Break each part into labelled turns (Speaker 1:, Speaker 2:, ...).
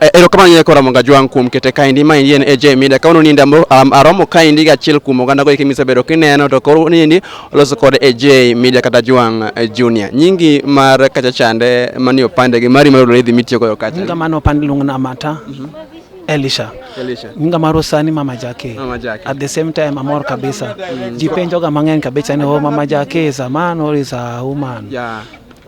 Speaker 1: Eh, erokamano nyine kora monga jwang kuom kete kaendi ma endi en AJ Media ka ununinde um, aromo kaendi gi achiel kuom oganda go kimisebedo kineno to koro unindi oloso kod AJ Media kata jwang eh, junior nyingi mar kacha chande mani opande gi mari mar odore dhi mitiyo goyo kacha kamano opande luongna
Speaker 2: mata mm -hmm. Elisha. Elisha. Nyinga marwa sani Mama Jackie. Mama Jackie. At the same time amor kabisa. Mm. Ji penjoga mang'eny kabisa ni oh, Mama Jackie is a man or is a woman. Yeah.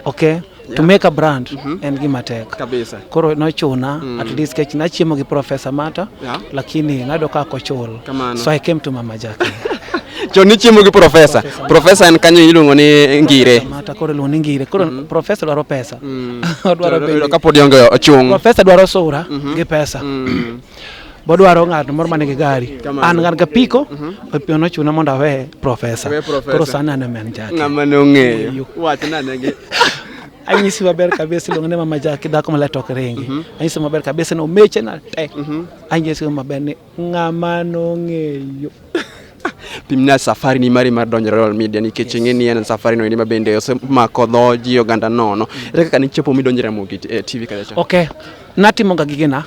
Speaker 2: Okay. Yeah. To make a brand mm -hmm. en gima tek kabisa. Koro nochuna mm. at least kech nachiemo gi Professor Mata yeah. Lakini nado ka kochul so I came to Mama Jackie chon nichiemo
Speaker 1: gi profesa profesa en kanyo iluongo ni ngire mata koro iluongo ni ngire
Speaker 2: koro mm-hmm. profesa dwaro pesa Mm. Odwaro bende.
Speaker 1: Yudo ka pod ionge ochung'. Profesa dwaro sura
Speaker 2: Mhm. gi pesa. Mm. Bodwaro ng'at moro ma nigi gari. Kamano. An ng'at ga piko, opion ochuna mondo awe profesa. Awe profesa. Koro sani an ema en jaki. Ng'ama ne ong'eyo. Eyo.
Speaker 1: Wachna negi. Anyisi
Speaker 2: maber kabisa iluongo ni mama jaki dhako malet ok ringi. Anyisi maber kabisa ni omeche na tek. Anyisi maber ni Ng'ama nong'eyo.
Speaker 1: Pimna safari ni mari mar donjo Royal Media nikech ing'e ni en safari no endi ma bende osemako dho ji oganda nono. Ere kaka nichopo midonjo Ramogi eh, TV kacha cha? Okay. Natimo
Speaker 2: ga gigena.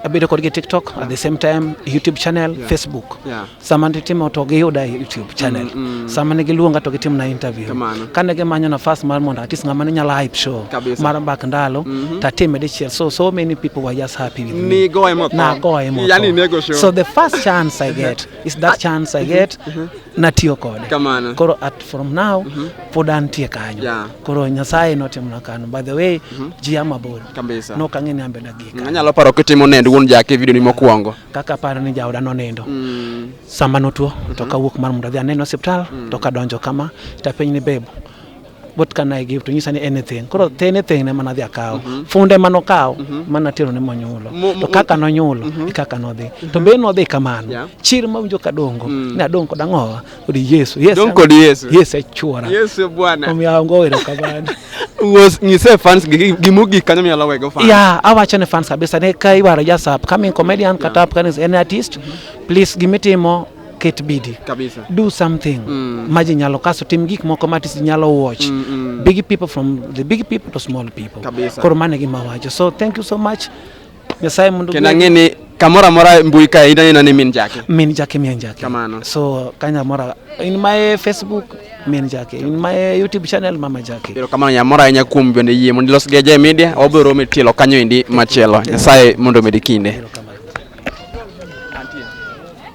Speaker 2: Abedo kodgi TikTok at the same time YouTube channel, Facebook. Yeah. Sama nditimo to giyuda e YouTube. channel mm, mm. sama ne giluonga to gitim na interview kane gimanyo nafas mar mondo atis ng'ama ne nyalo hype show Kabisa. mar mbak ndalo mm -hmm. tatime dichiel so so many people were just happy with me nigoye motho nagoye motho yani
Speaker 1: nego show so the first chance
Speaker 2: i get is that chance i get mm -hmm. natiyo kode kamano koro at from now mm -hmm. pod antie kanyo yeah. koro nyasaye notimona kanyo by the way mm -hmm. ji amabor kabisa no kang'e ni ambe dagika anyalo paro kitimo nend
Speaker 1: wuon jake video ni mokwongo kaka aparo ni jaoda
Speaker 2: nonindo mm. sama notuo mm -hmm. to mhm. kawuok mar mondo adhi aneno osiptal mm. to kadonjo kama tapenj ni bebo what can I give to nyisa ni anything koro the anything ne mana dhi akawo mm -hmm. funde mano kawo mm -hmm. mana tero ne monyulo to kaka nonyulo mm -hmm. kaka nodhi mm -hmm. to be nodhi kamano yeah. chir mawinjo kadongo mm. ne adong kod ang'owa Uri Yesu. Yes. Donko di Yesu. Yes,
Speaker 1: achuora. Yesu
Speaker 2: e bwana. Omiyo
Speaker 1: ango wero
Speaker 2: kamano. Was nyise
Speaker 1: fans gi gimugi kanyo minyalo wego fans. Yeah, awacho ne fans kabisa
Speaker 2: ne ka iwaro just up coming comedian yeah. kata up kanis any artist. Mm -hmm. Please gimitimo ket bidi kabisa do something
Speaker 1: mm.
Speaker 2: maji nyalo kaso tim gik moko matis nyalo watch mm -mm. big people from the big people to small people kabisa koro mane gi mawacho so thank you so much nyasaye mondo kendo ang'e ni kamoro
Speaker 1: amora mbui kae ineno ineno ni min jake min jake min jake Kamano. so
Speaker 2: kanya mora in my facebook min jake in my youtube channel mama jake ero kamano nyamora ahinya
Speaker 1: kuom bende yie mondo ilos gi Ajay media wabiro romo e tielo kanyo endi machielo nyasaye mondo omedi kinde